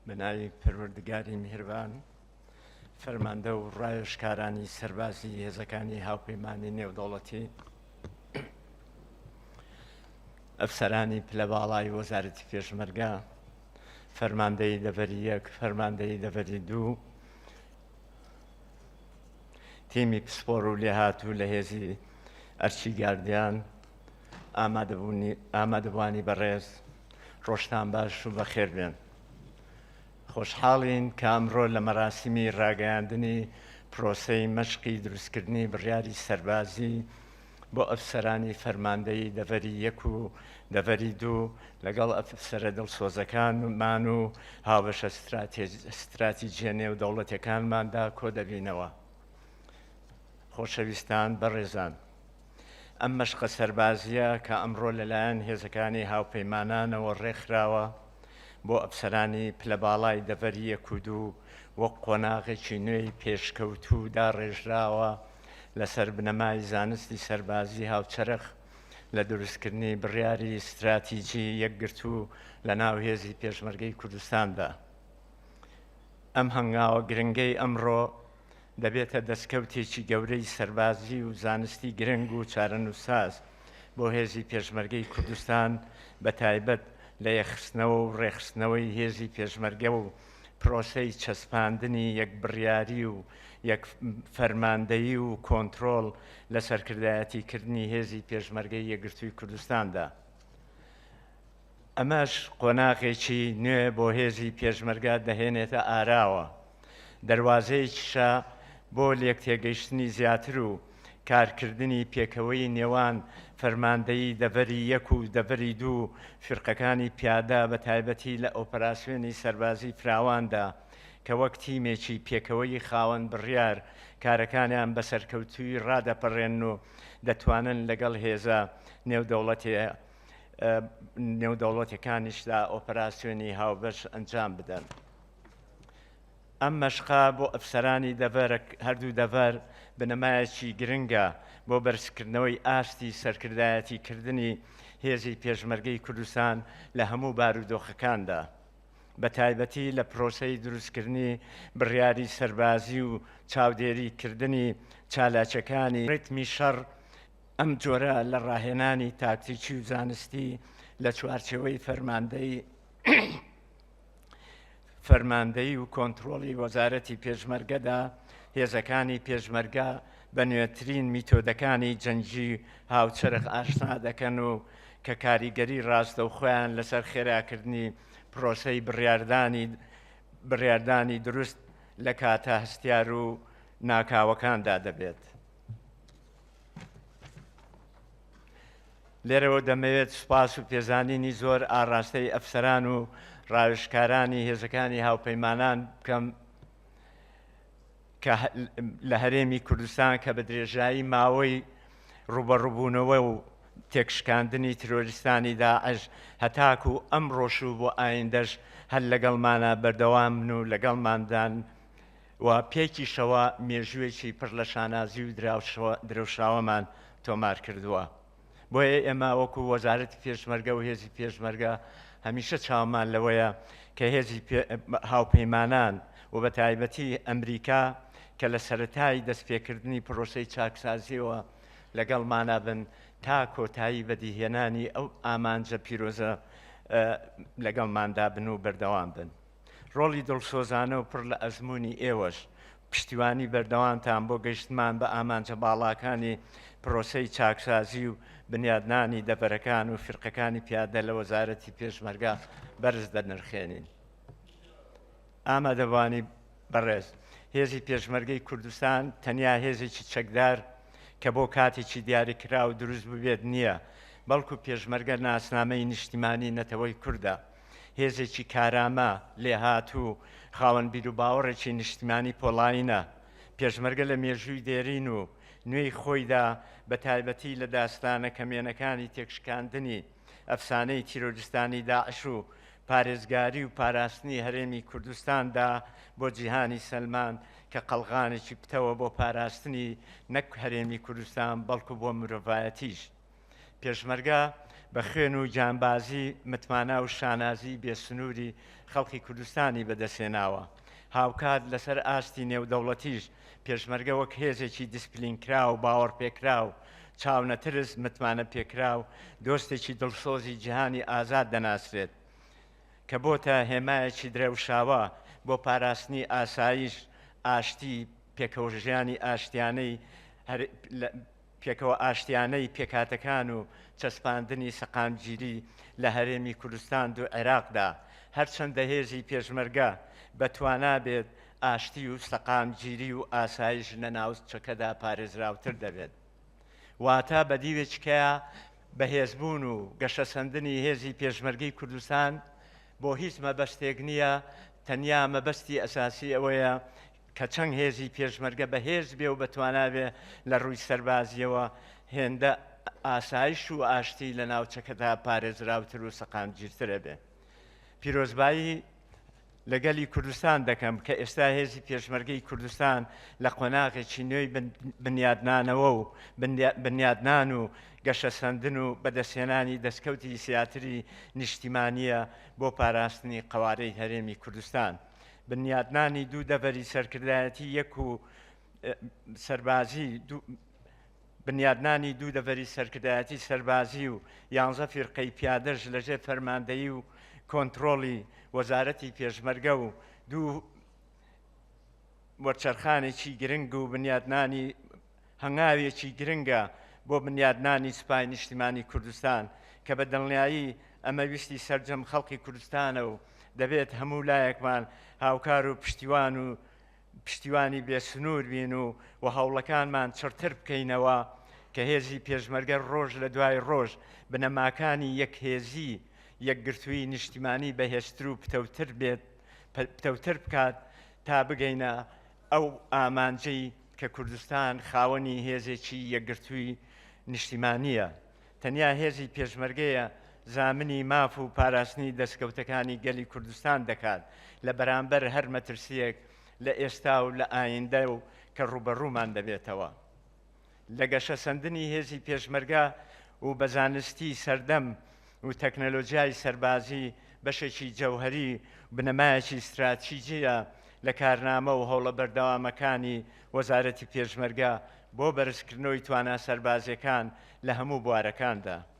بە ناوی پەروەردگاری میهربان فەرماندە و ڕایشکارانی سەربازی هێزەکانی هاوپەیمانانی نێودەوڵەتی ئەفسەرانی پلە باڵای وەزارەتی پێشمەرگە فەرماندەی دەڤەری یەک فەرماندەی دەڤەری دوو تیمی پسپۆر و لێهاتوو لە هێزی ئەرچی گاردیان ئامادەبوانی بەڕێز ڕۆژتان باش و بەخێر بێن. خۆشحاڵین کە ئەمڕۆ لە مەراسیمی ڕاگەیاندنی پرۆسەی مەشقی دروستکردنی بڕیاری سەربازی بۆ ئەفسەرانی فەرماندەی دەڤەری یەک و دەڤەری دوو لەگەڵ ئەفسرە دڵسۆزەکانمان و هاوبەشە ستراتیجیە نێو دەوڵەتەکانماندا کۆ دەبینەوە. خۆشەویستان بەڕێزان. ئەم مەشقە سەربازییە کە ئەمڕۆ لەلایەن هێزەکانی هاوپەیمانانەوە ڕێکخراوە بۆ ئەفسەرانی پلە باڵای دەڤەری یەک و دوو وەک قۆناغێکی نوێی پێشکەوتوو داڕێژراوە لەسەر بنەمای زانستی سەربازی هاوچەرخ لە دروستکردنی بڕیاری ستراتیجی یەکگرتوو لە ناو هێزی پێشمەرگەی کوردستاندا ئەم هەنگاوە گرنگەی ئەمڕۆ دەبێتە دەستکەوتێکی گەورەی سەربازی و زانستی گرنگ و چارەنووسساز بۆ هێزی پێشمەرگەی کوردستان بە تایبەت لە یەکخستنەوە و ڕێکخستنەوەی هێزی پێشمەرگە و پرۆسەی چەسپاندنی یەکبڕیاری و یەک فەرماندەیی و کۆنترۆڵ لە سەرکردایەتیکردنی هێزی پێشمەرگەی یەکگرتووی کوردستاندا. ئەمەش قۆناغێکی نوێ بۆ هێزی پێشمەرگە دەهێنێتە ئاراوە، دەروازەیەکیشە بۆ لێکتێگەیشتنی زیاتر و کارکردنی پێکەوەی نێوان فەرماندەیی دەڤەری یەک و دەڤەری دوو و فیرقەکانی پیادە بە تایبەتی لە ئۆپەراسیۆنی سەربازی فراواندا کە وەک تیمێکی پێکەوەیی خاوەن بڕیار کارەکانیان بە سەرکەوتووی ڕادەپەڕێنن و دەتوانن لەگەڵ هێزە نێودەوڵەتییە نێودەوڵەتەکانیشدا ئۆپەراسیۆنی هاوبەش ئەنجام بدەن. ئەم مەشقا بۆ ئەفسەرانی دەڤەر هەردوو دەڤەر بنەمایەکی گرنگە بۆ بەرزکردنەوەی ئاستی سەرکردایەتی کردنی هێزی پێشمەرگەی کوردستان لە هەموو بارودۆخەکاندا. بە تایبەتی لە پرۆسەی دروستکردنی بڕیاری سەربازی و چاودێری کردنی چالاکەکانی ڕیتمی شەڕ ئەم جۆرە لە ڕاهێنانی تاکتیکی و زانستی لە چوارچێوەی فەرماندەی فەرماندەی و کۆنتترۆڵی وەزارەتی پێشمەرگەدا هێزەکانی پێشمەرگە بە نوێترین میتۆدەکانی جەنگی هاوچەرخ ئاشنا دەکەن و کە کاریگەری ڕاستە و خۆیان لەسەر خێراکردنی پرۆسەی بڕاردانی بڕاردانی دروست لە کاتە هەستیار و ناکاوەکاندا دەبێت. لێرەوە دەمەوێت سوپاس و پێزانینی زۆر ئاراستەی ئەفسەران و ڕاوشکارانی هێزەکانی هاوپەیمانان بکەم کە لە هەرێمی کوردستان کە بە درێژایی ماوەی ڕوبەڕبوونەوە و تێکشکاندنی ترۆریستانی داعش هەتاک و ئەم ڕۆشوو بۆ ئایندەش هەر لەگەڵمانە بەردەوامن و لەگەڵماندان و پێکیشەوە مێژووێکی پڕ لە شانازی و درەوشاوەمان تۆمار کردووە. بۆیە ئێمە وەکو وەزارەتی پێشمەرگە و هێزی پێشمەرگە هەمیشە چاومان لەوەیە کە هێزی هاوپەیمانان و بە تایبەتی ئەمریکا کە لە سەرەتای دەستپێکردنی پرۆسەی چاکسازییەوە لەگەڵمانە بن تا کۆتایی بەدیهێنانی ئەو ئامانجە پیرۆزە لەگەڵماندا بن و بەردەوام بن. ڕۆڵی دڵسۆزانە و پڕ لە ئەزموونی ئێوەش پشتیوانی بەردەوامتان بۆ گەیشتمان بە ئامانجە باڵاکانی پرۆسەی چاکسازی و بنیادنانی دەڤەرەکان و فرقەکانی پیادە لە وەزارەتی پێشمەرگا بەرز دەنرخێنین. ئامادەبانی بەڕێز هێزی پێشمەرگەی کوردستان تەنیا هێزێکی چەکدار کە بۆ کاتێکی دیاریکرا و دروست ببێت نییە، بەڵکو پێشمەرگە ناسنامەی نیشتیمانی نەتەوەی کوردە. هێزێکی کارامە، لێهاتوو، خاوەن بیروباوەڕێکی نیشتمانی پۆڵاینە. پێشمەرگە لە مێژووی دێرین و نوێی خۆیدا، بە تایبەتی لە داستانە کەمێنەکانی تێکشکاندنی ئەفسانەی تیرۆریستانی داعش و پارێزگاری و پاراستنی هەرێمی کوردستاندا بۆ جیهانی سەلماند کە قەڵغانێکی پتەوە بۆ پاراستنی نەک هەرێمی کوردستان بەڵکو بۆ مرۆڤایەتیش. پێشمەرگە بە خوێن و گیانبازی متمانە و شانازی بێسنووری خەڵکی کوردستانی بەدەستێناوە هاوکات لەسەر ئاستی نێودەوڵەتیش پێشمەرگە وەک هێزێکی دیسپلین کرا و باوەڕ پێکرا و چاونەترس متمانە پێکرا و دۆستێکی دڵسۆزی جیهانی ئازاد دەناسرێت کە بۆتە هێمایەکی درەوشاوە بۆ پاراستنی ئاسایش ئاشتی پێکەوەژیانی ئاشتیانەی پێکەوە ئاشتیانەی پێکهاتەکان و چەسپاندنی سەقامگیری لە هەرێمی کوردستان دو عێراقدا، هەرچەندە هێزی پێشمەرگە بە توانا بێت، ئاشتی و سەقامگیری و ئاسایش لە ناوچەکەدا پارێزراوتر دەبێت. واتە بە دیوێکی کەا بەهێزبون و گەشەسەندنی هێزی پێشمەرگەی کوردستان بۆ هیچ مەبەستێک نیە، تەنیا مەبەستی ئەساسی ئەوەیە کە چەند هێزی پێشمەرگە بەهێز بێ و بەتوانا بێ لە ڕووی سەربازییەوە هێندە ئاسایش و ئاشتی لە ناوچەکەدا پارێزراوتر و سەقامگیرتر ئەبێ. پیرۆزبایی لە گەلی کوردستان دەکەم کە ئێستا هێزی پێشمەرگەی کوردستان لە قۆناغێکی نوێی بنیادنانەوە و بنیادنان و گەشەسەندن و بەدەستهێنانی دەستکەوتی زیاتری نیشتیمانییە بۆ پاراستنی قەوارەی هەرێمی کوردستان. بنیاتنانی دوو دەڤەری سەرکردایەتی یەک و سەربازی بنیادنانی دوو دەڤەری سەرکردایەتی سەربازی و یانزە فیرقەی پیادەش لەژێ فەرماندەیی و کۆنتترۆڵی وەزارەتی پێشمەرگە و دوو وەرچەرخانێکی گرنگ و بنیادنانی هەنگاوێکی گرنگە بۆ بنیادنانی سوپای نیشتیمانی کوردستان کە بە دڵنیایی ئەمە ویستی سەرجەم خەڵقی کوردستانە و دەبێت هەموو لایەکمان هاوکار و پشتیوان و پشتیوانی بێسنوور بین و و هەوڵەکانمان چڕتر بکەینەوە کە هێزی پێشمەرگە ڕۆژ لە دوای ڕۆژ بنەماکانی یەکهێزی یەکگرتووی نیشتیمانی بەهێزتر و پتەوتر بێت پتەوتر بکات تا بگەینە ئەو ئامانجەی کە کوردستان خاوەنی هێزێکی یەکگرتووی نیشتیمانییە، تەنیا هێزی پێشمەرگەیە، زامنی ماف و پاراستنی دەستکەوتەکانی گەلی کوردستان دەکات لە بەرامبەر هەر مەترسییەک لە ئێستا و لە ئایندە و کە ڕووبەڕوومان دەبێتەوە. لە گەشەسەندنی هێزی پێشمەرگە و بە زانستی سەردەم و تەکنەلۆجیای سەربازی بەشێکی جەوهەری بنەمایەکی ستراتیجییە لە کارنامە و هەوڵە بەردەوامەکانی وەزارەتی پێشمەرگە بۆ بەرزکردنەوەی توانا سەربازیەکان لە هەموو بوارەکاندا.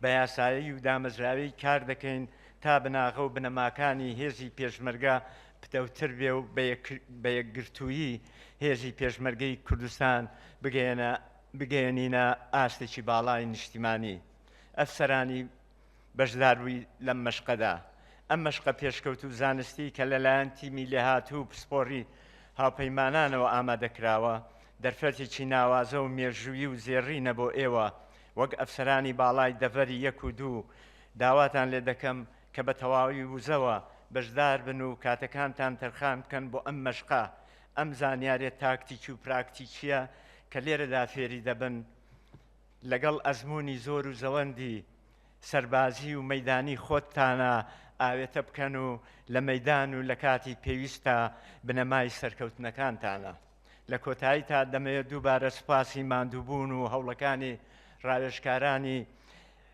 بە یاسایی و دامەزراوی کار دەکەین تا بناغە و بنەماکانی هێزی پێشمەرگە پتەوتر بێ و بە یەکگرتوویی هێزی پێشمەرگەی کوردستان بگەێنە بگەێنینە ئاستێکی باڵای نیشتیمانی ئەفسەرانی بەشداربووی لەم مەشقەدا ئەم مەشقە پێشکەوت و زانستی کە لەلایەن تیمی لێهاتوو و پسپۆری هاوپەیمانانەوە ئامادەکراوە دەرفەتێکی ناوازە و مێژووی و زێڕینە بۆ ئێوە وەک ئەفسەرانی باڵای دەڤەری یەک و دوو، داواتان لێ دەکەم کە بە تەواوی وزەوە بەشدار بن و کاتەکانتان تەرخان بکەن بۆ ئەم مەشقە، ئەم زانیارییە تاکتیکی و پراکتیکییە کە لێرەدا فێری دەبن، لەگەڵ ئەزموونی زۆر و زەوەندی سەربازی و مەیدانی خۆتتانا ئاوێتە بکەن و لە مەیدان و لە کاتی پێویستدا بنەمای سەرکەوتنەکانتانە. لە کۆتاییدا دەمەوێت دووبارە سوپاسی ماندووبوون و هەوڵەکانی ڕاوێژکارانی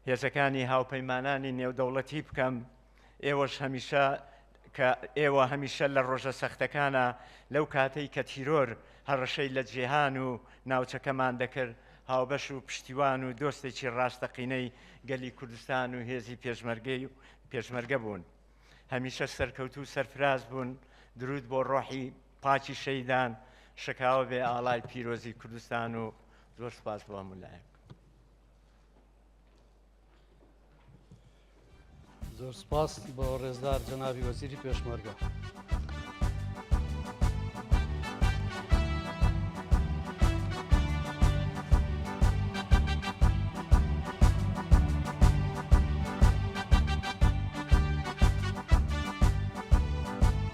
هێزەکانی هاوپەیمانانی نێودەوڵەتی بکەم ئێوەش هەمیشە کە ئێوە هەمیشە لە ڕۆژە سەختەکانە لەو کاتەی کە تیرۆر هەڕەشەی لە جێهان و ناوچەکەمان دەکرد هاوبەش و پشتیوان و دۆستێکی ڕاستەقینەی گەلی کوردستان و هێزی پێشمەرگەی و پێشمەرگە بوون هەمیشە سەرکەوتو سەرفراز بوون درود بۆ ڕۆحی پاکی شەیدان شکاوە بێ ئاڵای پیرۆزی کوردستان و زۆر سپاس بۆ هەموو لایەک زۆر سپاس بۆ ڕێزدار جەناوی وەزیری پێشمەرگە.